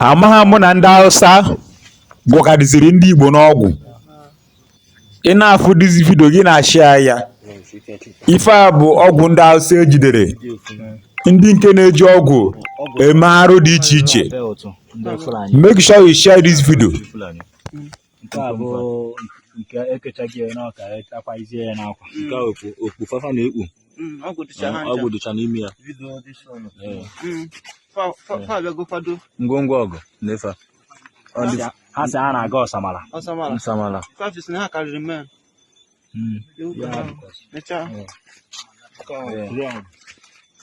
amaha mụ na ndị Hausa gwọkarịsịrị ndị Igbo n'ọgwụ ị na-afụ this video gị na-ashịa ya ife a bụ ọgwụ ndị Hausa ejidere ndị nke na-eji ọgwụ eme arụ dị iche iche make sure you share this video nke a bụ nke ekechaghị ya n'ọka akwazie ya n'akwa mm. nke a okpu okpu fafa na-ekpu mm, ọgwụ dịcha n'ime ya mm. ngwongwo ọgụ na ife ha sị ha na-aga ọsamara ọsamara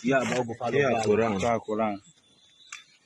ya bụ ọgwụ fada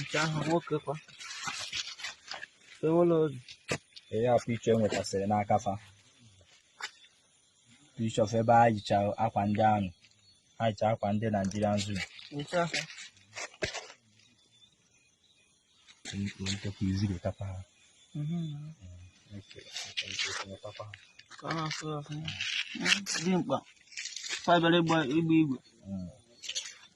nke ahụ nwoke kwa ewela ozi ihe a picture e nwetasịrị n'aka fa picture of ebe ha yicha akwa ndị ahụ ha yicha akwa ndị Nigerian zoo nke ahụ ka ọ na-asụ ọfụma dị mkpa fa bịara ịgba igwe